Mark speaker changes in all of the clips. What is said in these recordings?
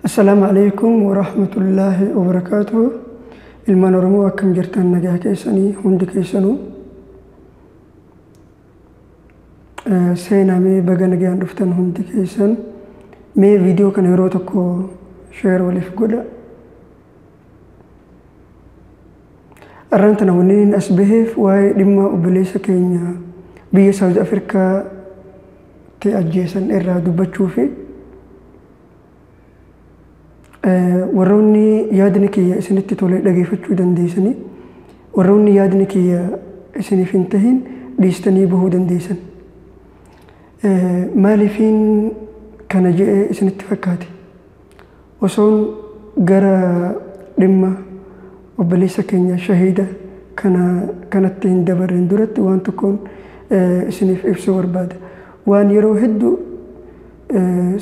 Speaker 1: Assalaamu alaikum warahmatullaahi wabarakaatuhu. Ilmaan Oromoo akkam jirtan nagaa keessanii hundi keessanuu. Eh, Seenaa mee baga nagaan dhuftan hundi keessan. Mee viidiyoo kana yeroo tokko sheer waliif godha. Arraan tana wanniin as baheef waa'ee dhimma obboleessa keenya biyya Saawuz Afrikaatti ajjeesan irraa dubbachuu fi warroonni yaadni kiyya isinitti tolee dhageeffachuu dandeessanii warroonni yaadni kiyya isiniif hin tahin dhiistanii bahuu dandeessan. Maaliifiin kana jedhee isinitti fakkaate? Osoon gara dhimma obboleessa keenya shahiida kana kanatti hin dabarreen duratti waan tokkoon isiniif ibsuu barbaada. Waan yeroo hedduu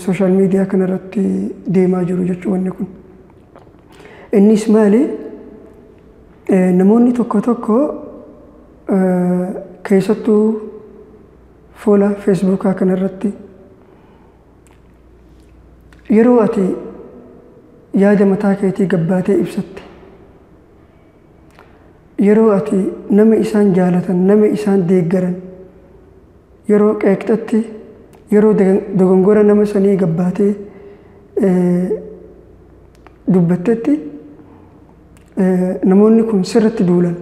Speaker 1: sooshaal miidiyaa kanarratti deemaa jiru jechuu wanni kun. Innis maali? Namoonni tokko tokko keessattuu fuula feesbuukaa kanarratti yeroo ati yaada mataa keetii gabbaatee ibsatte yeroo ati nama isaan jaalatan nama isaan deeggaran yeroo qeeqxatti yeroo dogongora nama sanii gabbaatee dubbattetti namoonni kun sirratti duulan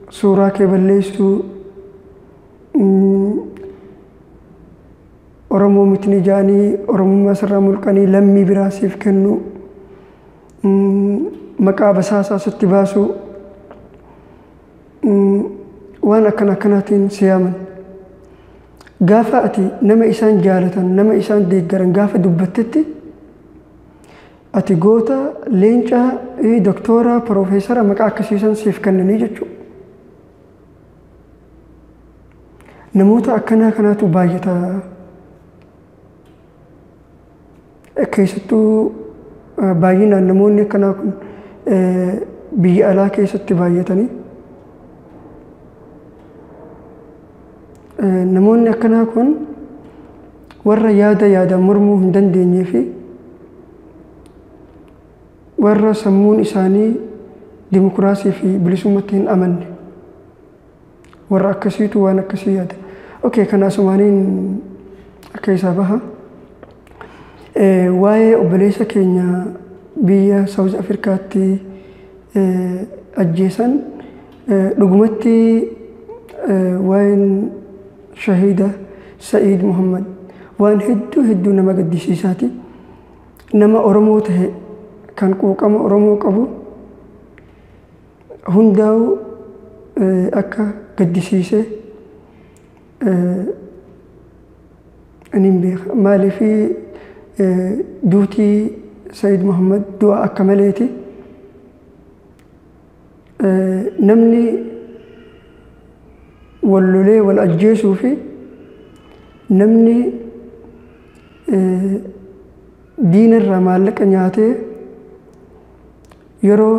Speaker 1: suuraa kee balleessuu Oromoo mitni jaanii Oromummaa sirraa mulqanii lammii biraa siif kennuu maqaa basaasaa sitti baasuu waan akkan akkanaatiin si yaaman. Gaafa ati nama isaan jaalatan nama isaan deeggaran gaafa dubbattetti Ati goota, leenca, ee, doktoora, piroofeesara maqaa akkasiisan siif kennanii jechuudha. Namoota akkanaa kanaatu baay'ata. Eh, Keessattuu eh, baay'inaan namoonni akkanaa kun eh, biyya alaa keessatti baay'atanii eh, namoonni akkanaa kun warra yaada yaadaan mormuu hin dandeenyee fi warra sammuun isaanii dimokiraasii fi bilisummatti hin amanne warra akkasiitu waan akkasii yaada. Okay, kana asumaaniin akka isaa baha. Waa'ee obboleessa keenya biyya Saawuz Afrikaatti ajjeesan dhugumatti waa'een Shahiida Sa'iid Muhammad waan hedduu hedduu nama gaddisiisaati. Nama Oromoo tahe kan quuqama Oromoo qabu hundaa'uu akka gaddisiise aniin beeka. Maaliif duutii Sa'iid Muhammad du'a akka maleeti. namni wal lolee wal ajjeesuu fi namni diina irraa maallaqa nyaatee yeroo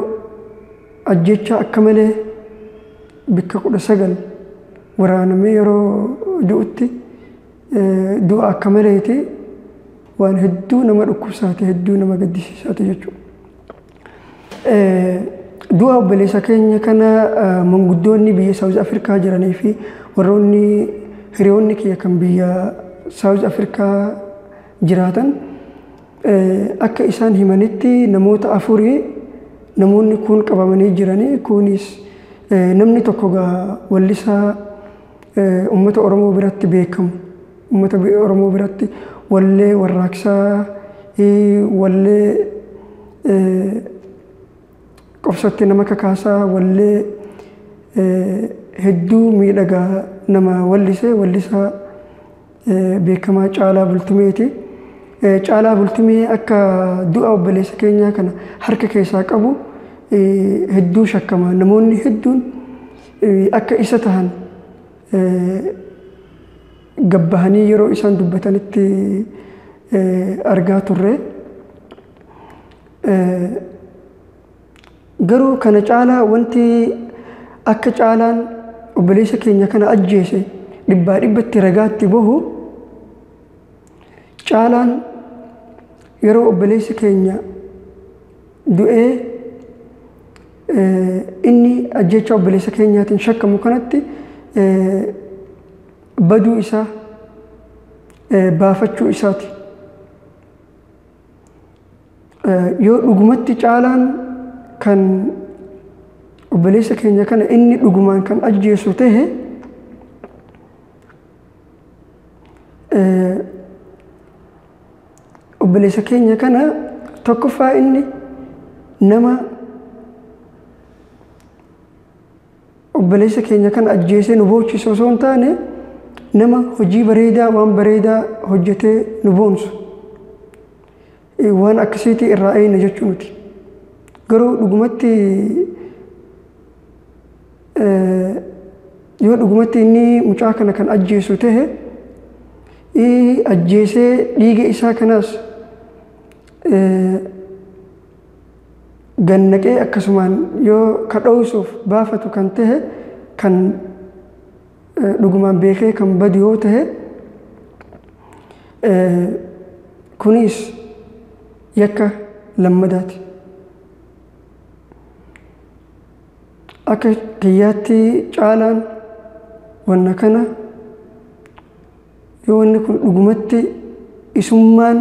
Speaker 1: ajjechaa akka malee bakka kudha sagal waraanamee yeroo du'utti du'a akka maleeti waan hedduu nama dhukkubsaate hedduu nama gaddisiisaate jechuudha. Du'a obboleessa keenya kana manguddoonni biyya Saawuz Afrikaa jiranii fi warroonni hiriyoonni kiyya kan biyya Saawuz Afrikaa jiraatan akka isaan himanitti namoota afurii namoonni kuun qabamanii jiranii kuunis namni tokko gaa wallisaa Uummata Oromoo biratti beekamu. Uummata Oromoo biratti wallee warraaqsaa, wallee qobsootti nama kakaasaa, wallee hedduu miidhagaa nama wallisee wallisaa beekamaa Caalaa Bultumeeti. Caalaa Bultumee akka du'a obboleessa keenyaa kana harka keessaa qabu hedduu shakkama. Namoonni hedduun akka isa tahan gabbahanii yeroo isaan dubbatanitti argaa turre. Garuu kana caalaa wanti akka caalaan obboleessa keenya kana ajjeese dhibbaa dhibbatti ragaatti bahu caalaan yeroo obboleessi keenya du'ee inni ajjeechaa obboleessa keenyaatiin shakkamu kanatti baduu isaa baafachuu isaati. yoo dhugumatti caalaan kan obboleessa keenya kana inni dhugumaan kan ajjeesu ta'e obboleessa keenya kana tokkoffaa inni nama Obboleessa keenya kan ajjeesee nu boochisu osoo hin taane nama hojii bareedaa waan bareedaa hojjetee nu boonsu waan akkasiitii irraa eeyna jechuu miti. Garuu dhugumatti yoo dhugumatti inni mucaa kana kan ajjeesu ta'e ajjeesee dhiiga isaa kanaas gad naqee akkasumaan yoo ka dhooysuuf baafatu kan tahe kan dhugumaan beekee kan badu yoo tahe kunis yakka lammadaati. Akka kiyyaatti caalaan wanna kana Yoo wanni kun dhugumatti isummaan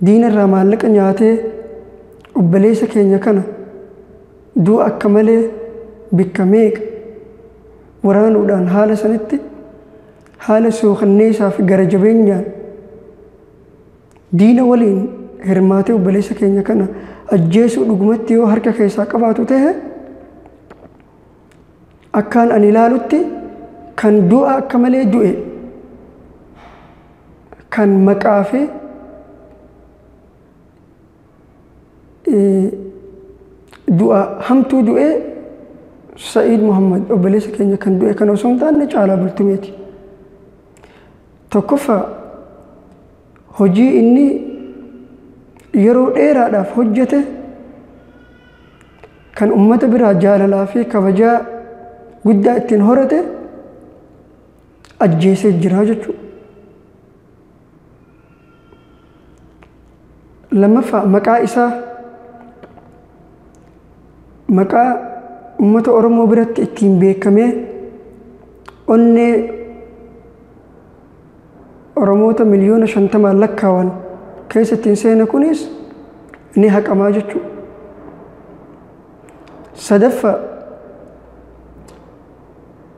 Speaker 1: diina irraa maallaqa nyaatee obbaleessa keenya kana du'a akka malee bikka meeqa waraanuudhaan haala sanitti haala suukanneessaa fi gara jabeenyaan diina waliin hirmaatee obbaleessa keenya kana ajjeesuu dhugumatti yoo harka keessaa qabaatu ta'e Akkaan ani ilaalutti kan du'a akka malee du'e kan maqaa fi du'a hamtuu du'e Sa'iid Muhammad obboleessa keenya kan du'e kan osoo hin taane caalaa bultumeeti. Tokkoffaa hojii inni yeroo dheeraadhaaf hojjete kan ummata biraa jaalalaa fi kabajaa guddaa ittiin horate ajjeesee jira jechuudha. Lammaffaa maqaa isaa maqaa ummata Oromoo biratti ittiin beekamee onnee Oromoota miliyoona shantamaan lakkaawan keessa ittiin seene kunis ni haqamaa jechuudha. Sadaffaa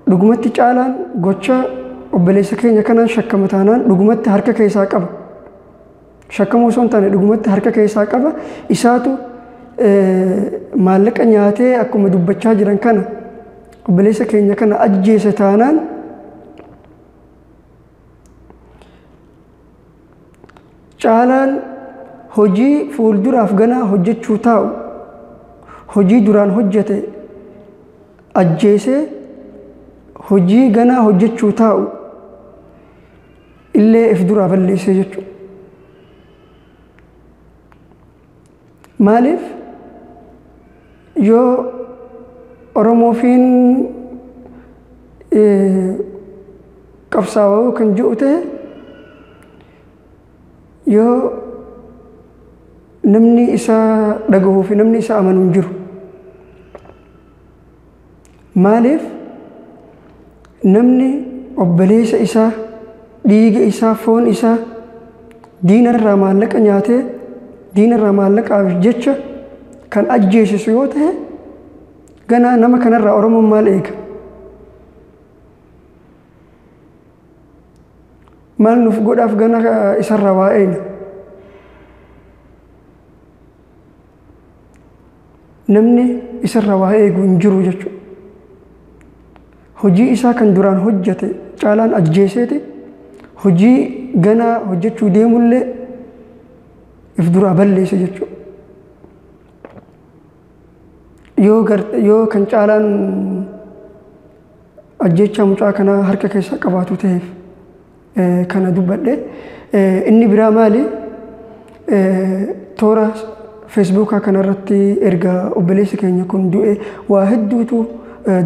Speaker 1: dhugumatti caalaan gocha obboleessa keenya kanaan shakkama taanaan dhugumatti harka keessaa qaba. Shakkamuu osoo hin taane dhugumatti harka keessaa qaba. Isaatu maallaqa nyaatee akkuma dubbachaa jiran kana obboleessa keenya kana ajjeese taanaan Caalaan hojii fuulduraaf ganaa hojjechuu taa'u hojii duraan hojjete ajjeesee hojii ganaa hojjechuu taa'u illee if duraa balleessee jechuudha. Maaliif yoo Oromoofiin qabsaawaa kan jiru ta'e yoo namni isaa dhagahuu fi namni isaa amanu hin jiru. Maaliif namni obboleessa isaa dhiiga isaa foon isaa diina irraa maallaqa nyaatee diina irraa maallaqaaf jecha kan ajjeesisu yoo ta'e ganaa nama kanarraa Oromoon maal eega? Maal nuuf godhaaf gana isarraa waa eegna? namni isarra waa eegu hin jiru jechuudha. Hojii isaa kan duraan hojjete caalaan ajjeeseeti hojii ganaa hojjechuu deemullee if duraa balleessa jechuudha. Yoo, gar, yoo kan caalaan ajjechaa mucaa kanaa harka keessaa qabaatu ta'eef. kana dubbadhe. Inni biraa maali? Toora Feesbuukaa kanarratti erga obboleessi keenya kun du'e waa hedduutu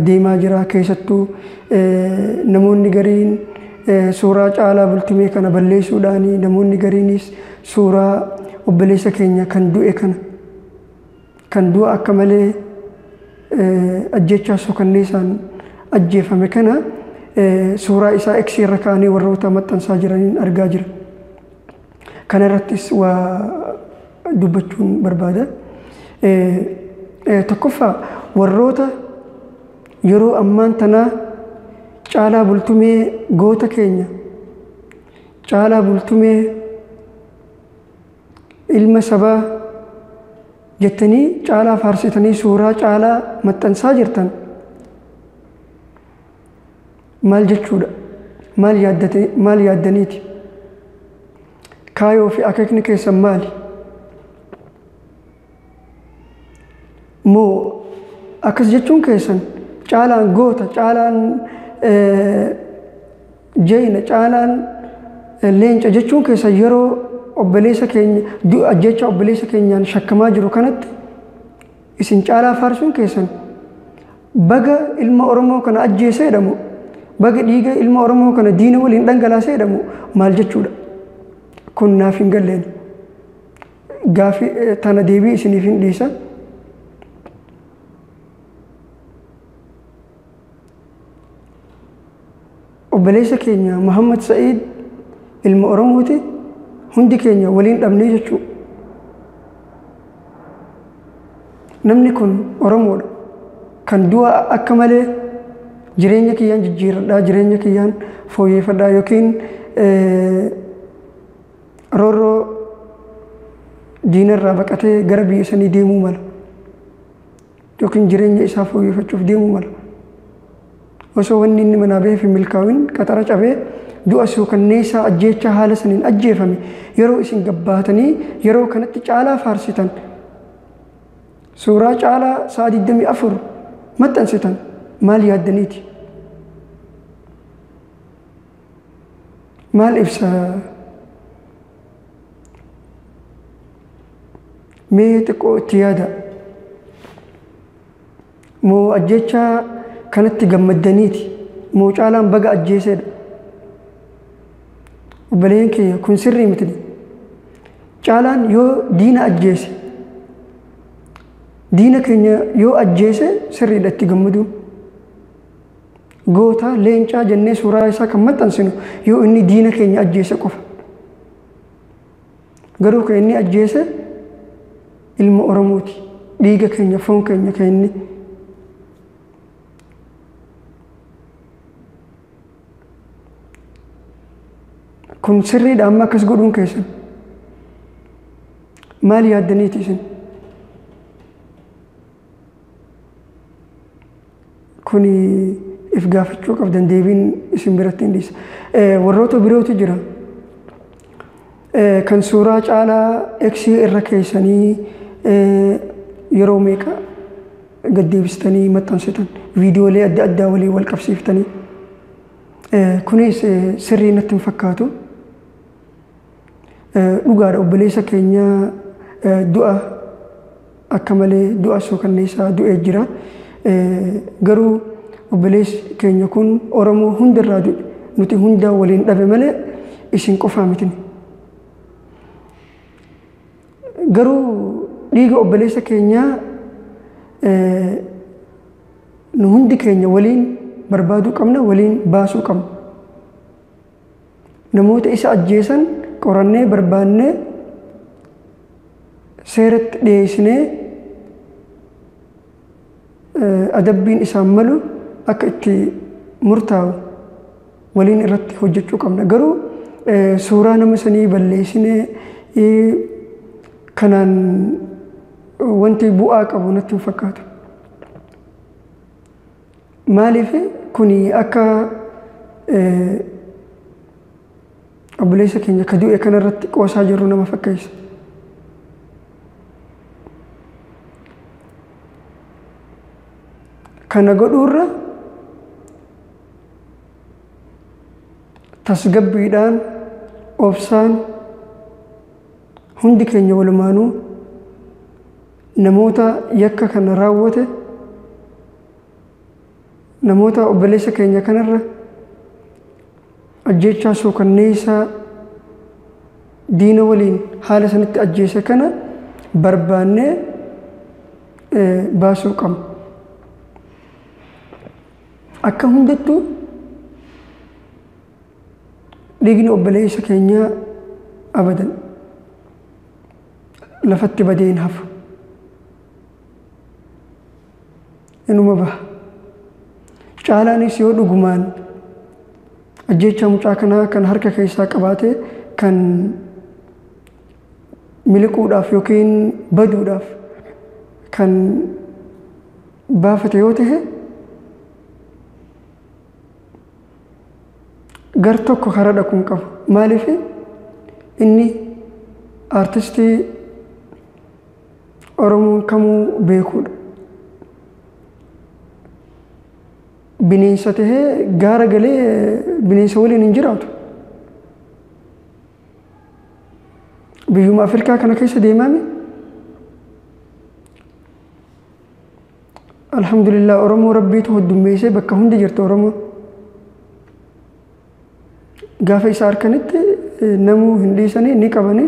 Speaker 1: deemaa jira. Keessattuu namoonni gariin suuraa caalaa bultumee kana balleessuudhaani namoonni gariinis suuraa obboleessa keenya kan du'e kana Kan du'a akka malee ajjeechaa suukanneessaan ajjeefame kana suuraa isaa X irra kaa'anii warroota maxxansaa jiraniin argaa jira. Kana irrattis waa dubbachuun barbaada. Tokkoffaa warroota yeroo ammaan tanaa caalaa bultumee goota keenya caalaa bultumee ilma sabaa jettanii caalaa faarsitanii suuraa caalaa maxxansaa jirtan maal jechuudha maal yaaddate maal yaaddaniiti kaayoo fi akeekni keessan maali moo akkas jechuun keessan caalaan goota caalaan jeeyna caalaan leenca jechuun keessan yeroo obboleessa keenya du'a jecha obboleessa keenyaan shakkamaa jiru kanatti isin caalaa faarsuun keessan baga ilma Oromoo kana ajjeesee jedhamu baga dhiiga ilma Oromoo kana diina waliin dhangalaasee jedhamu maal jechuudha kun naaf hin galleeni. Gaaffii eh, tana deebii isiniif hin dhiisa. Obboleessa keenya Muhammad Sa'iid ilma Oromooti hundi keenya waliin dhabnee jechuudha. Namni kun Oromoodha. Kan du'a akka malee jireenya kiyyaan jijjiirradhaa, jireenya kiyyaan fooyyeffadhaa yookiin eh, Roorroo diina irraa baqatee gara biyya sanii deemuu mala. Yookiin jireenya isaa fooyyefachuuf deemuu mala. Osoo wanni inni manaa baheef hin milkaa'in qaxara cabee du'a suukanneessaa ajjeechaa haala saniin ajjeefame yeroo isin gabbaatanii yeroo kanatti caalaa faarsitan suuraa caalaa sa'a 24 maxxansitan maal yaaddaniiti? maal ibsa mee xiqqoo itti yaada moo ajjechaa kanatti gammaddaniiti moo caalaan baga ajjeeseedha obboleen kiyya kun sirrii miti caalaan yoo diina ajjeese diina keenya yoo ajjeese sirriidha itti gammaduu Goota, leencaa jennee suuraa isaa kan maxxansinu yoo inni diina keenya ajjeese qofa. Garuu kan inni ajjeese ilma Oromooti. Dhiiga keenya, foon keenya kan inni kun sirriidha amma akkas godhuun keessan maal yaaddaniiti isin Kun if gaafachuu qabdan deebiin isin biratti hin dhiisa. Warroota birootu jira. Kan suuraa caalaa X irra keessanii yeroo meeqa gad deebistanii maxxansitan viidiyoolee adda addaa waliin wal qabsiiftanii. Kunis sirrii natti hin fakkaatu. Dhugaadha obboleessa keenya du'a akka malee du'a suukanneessaa du'ee jira. Garuu obboleessi keenya kun Oromoo hundarraa du'e. Nuti hundaa waliin dhabe malee isin qofaa mitin. Garuu dhiiga obboleessa keenyaa nu hundi keenya waliin barbaaduu qabna, waliin baasuu qabna. namoota isa ajjeesan qorannee barbaannee seeratti dhiyeessinee adabbiin isaan malu akka itti murtaa'u waliin irratti hojjechuu qabna. Garuu suuraa nama sanii balleessinee kanaan wanti bu'aa qabu natti hin fakkaatu. Maaliif kun akka obboleessa keenya ka du'e kanarratti qoosaa jirru nama fakkeessa. Kana godhuurra tasgabbiidhaan obsaan hundi keenya walumaanuu namoota yakka kana raawwate namoota obboleessa keenya kanarra ajjeechaa suukanneessaa diina waliin haala sanitti ajjeese kana barbaannee baasuu qabna. Akka hundattuu dhiigni obboleessa keenyaa abadan lafatti badee hin hafu. inuma baha. Caalaanis yoo dhugumaan ajjeechaa mucaa kanaa kan harka keessaa qabaate kan miliquudhaaf yookiin baduudhaaf kan baafate yoo ta'e gar tokko karaa dhaquu hin qabu. Maaliif inni aartistii Oromoon kamuu beekuudha. Bineensa tahee gaara galee bineensa waliin hin jiraatu. Biyyuma Afrikaa kana keessa deemaame. Alhamdulillah Oromoo Rabbiitu hoddummeessee bakka hundi jirti Oromoon. Gaafa isa harkanitti namuu hin dhiisanii ni qabanii.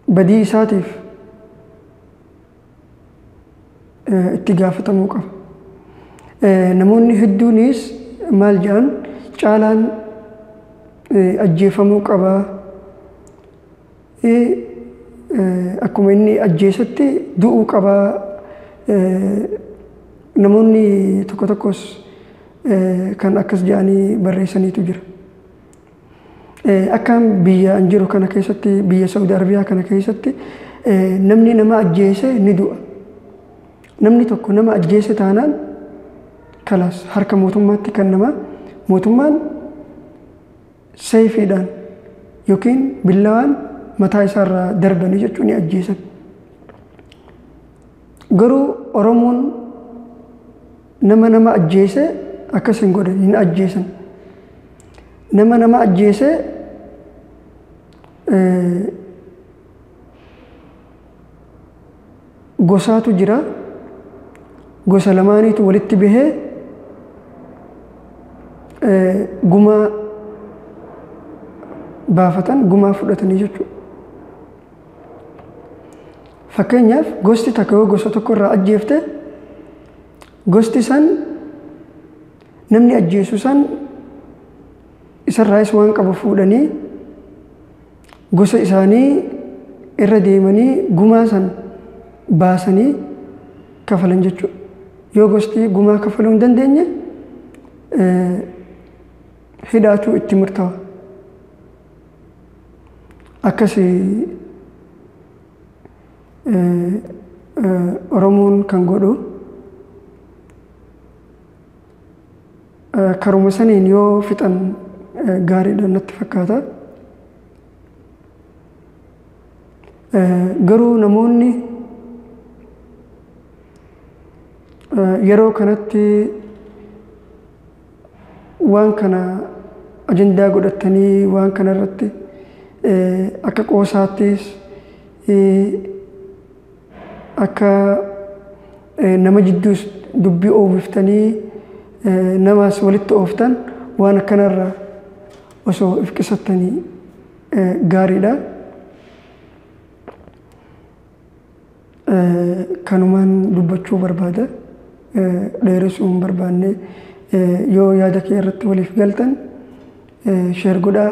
Speaker 1: Badii isaatiif itti gaafatamuu qaba. Namoonni hedduunis maal jedhan caalaan ajjeefamuu qaba Akkuma inni ajjeesutti du'uu qaba. Namoonni tokko tokkos kan akkas jedhanii barreessaniitu jira. Akka biyya an jiru kana keessatti biyya Saudi Arabiyaa kana keessatti namni nama ajjeese ni du'a. Namni tokko nama ajjeese taanaan kalaas harka mootummaatti kan nama mootummaan Seeyfiidhaan yookiin billawaan mataa isaa irraa darbanii jechuun ni ajjeesan. Garuu Oromoon nama nama ajjeese akkas hin godhan hin ajjeesan. Nama nama ajjeese eh, gosaatu jira. Gosa lamaaniitu walitti bahee gumaa baafatan gumaa fudhatanii jechuudha. Fakkeenyaaf gosti takka yoo gosa tokko irraa ajjeefte gosti san namni ajjeesu san isarraayis waan qabu fuudhanii gosa isaanii irra deemanii gumaa san baasanii kafalan jechuudha. Yoo gosti gumaa kafaluu hin dandeenye hidhaatu itti murtawa. Akkas Oromoon kan godhu Karuma saniin yoo fixan gaariidha natti fakkaata. Garuu namoonni yeroo kanatti waan kana ajandaa godhatanii waan kana irratti akka qoosaattis akka nama jidduus dubbii oofiftanii namaas walitti ooftan waan akkanarraa osoo if qisattanii gaariidha. Kanumaan dubbachuu barbaada. Dheeressuu hin barbaanne. Yoo yaada kee irratti waliif galtan sheer godhaa.